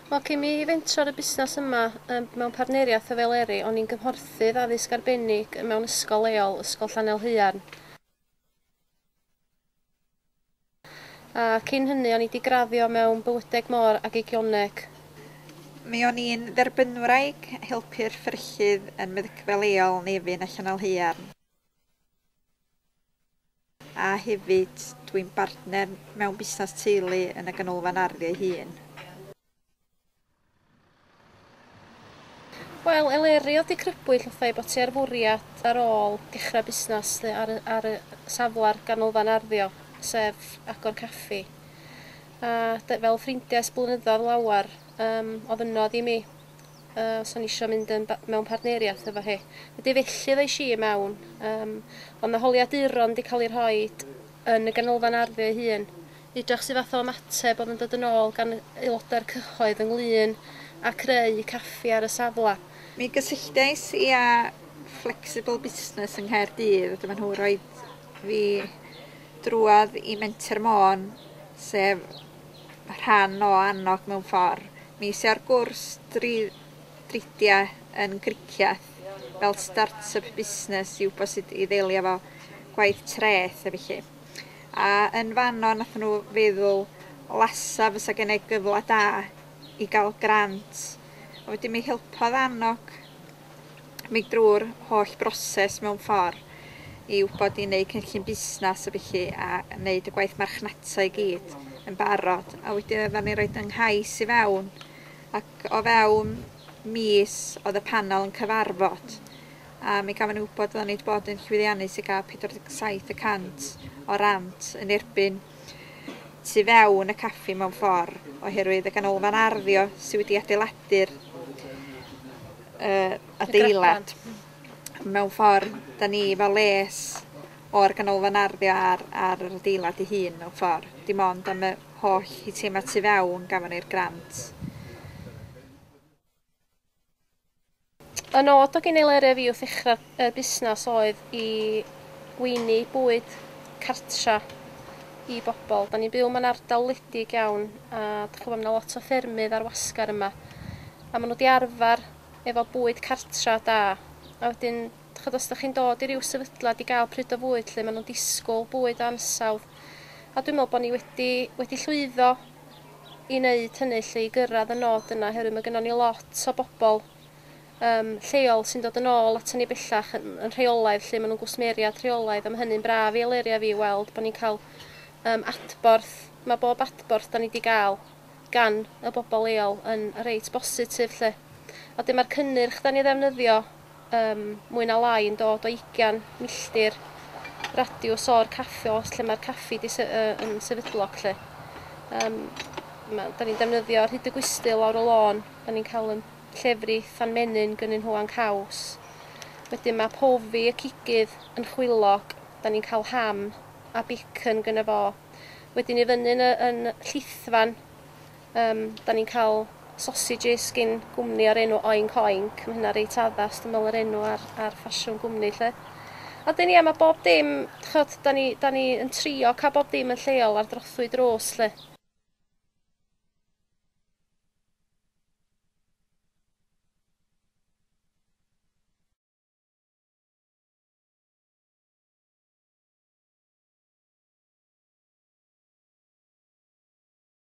Wel cyn mi fentro ar y busnes yma yym mewn partneriaeth efo Eleri o'n i'n gymhorthydd addysg arbennig mewn ysgol leol, Ysgol Llanelhaearn. A cyn hynny o'n i 'di graddio mewn bywydeg môr ag eigioneg. Mi o'n i'n dderbynwraig, helpu'r fferyllydd yn meddygfa leol Nefyn a Llanallhaearn. A hefyd, dwi'n bartner mewn busnes teulu yn y ganolfan arddio ei hun. Wel, Eleri, oedd dy crybwyll wrtha i bod ti ar fwriad ar ôl dechrau busnes dy ar y ar y safle'r ganolfan arddio, sef agor caffi. A dy fel ffrindiau ers blynyddoedd lawer, yym, ofynnodd i mi, yy, os o'n i isio mynd yn ba- mewn partneriaeth efo hi. Ydy, felly ddois i i mewn. Yym, oedd 'na holiaduron 'di cael eu rhoid yn y Ganolfan Ardd ei hun, i edrych su fath o ymateb oedd yn dod yn ôl gan aelodau'r cyhoedd ynglŷn â creu caffi ar y safle. Mi gysylltais i â Flexible Business yng Nghaerdydd a dyma nhw roid fi drwodd i Menter Môn, sef rhan o Annog mewn ffordd. Mi es i ar gwrs dri dridiau yn Gricieth. fel start-up busnes i wybod sut i ddelio efo gwaith treth a felly. A yn fanno nathon nhw feddwl lasa fysa gennai gyfle da i gael grant a wedyn mi helpodd annog mi drwy'r holl broses mewn ffordd i wybod i wneud cynllun busnes a felly a wneud y gwaith marchnata i gyd yn barod a wedyn oeddan ni roed yng nghais i fewn ac o fewn mis oedd y panel yn cyfarfod, a mi gafon ni wybod oeddan ni wedi bod yn llwyddiannus i gael 47 y cant o rant yn erbyn tu fewn y caffi mewn ffordd, oherwydd y ganolfan arddio sydd wedi adeiladu'r uh, adeilad. Mewn ffordd, da ni fel les o'r ganolfan arddio ar, ar yr adeilad ei hun mewn ffordd. Dim ond am y holl hitema tu fewn gafon ni'r grant. Y nod o gynnig Lerefi wrth ddechrau y busnes oedd i weini bwyd cartra i bobl. Da ni'n byw mewn ardal wledig iawn a dych chi'n gwybod, mae lot o ffermydd ar wasgar yma. A maen nhw wedi arfer efo bwyd cartra da. A wedyn, dych chi'n os ydych chi'n dod i ryw sefydliad i gael pryd o fwyd lle maen nhw'n disgwyl bwyd ansawdd. A dwi'n meddwl bod ni wedi, wedi llwyddo i wneud hynny 'lly, i gyrraedd y nod yna, oherwydd mae gynnon ni lot o bobl yym lleol sy'n dod yn ôl aton ni bellach yn yn rheolaidd 'lly, maen nhw'n gwsmeriad rheolaidd a mae hynny'n braf i Elerya fi i weld bod ni'n cael yym adborth, mae bob adborth 'dan ni 'di gael gan y bobl leol yn reit bositif 'lly. A wedyn ma'r cynnyrch 'dan ni ddefnyddio Ym mwy na lai yn dod o ugian milltir radiws o'r caffi os lle mae'r caffi di sy- yy yn sefydlog lly. Yym ma- 'dan ni'n defnyddio Rhyd y Gwisty lawr y lôn, 'dan ni'n cael yn llefrith fan menyn gynnyn nhw a'n caws. Wedyn ma' Pofi y cigydd yn chwilog, 'dan ni'n cael ham a bacon gynno fo. Wedyn i fyny'n y yn llithfan, Yym, 'da ni'n cael sausages gin gwmni o'r enw Oink Oink, ma' hynna reit addas dwi me'wl yr enw a'r a'r ffasiwn gwmni 'lly. A 'dyn ia ma' bob dim, d'chod, 'da ni 'da ni yn trio ca'l bob dim yn lleol ar drothwy drws 'lly.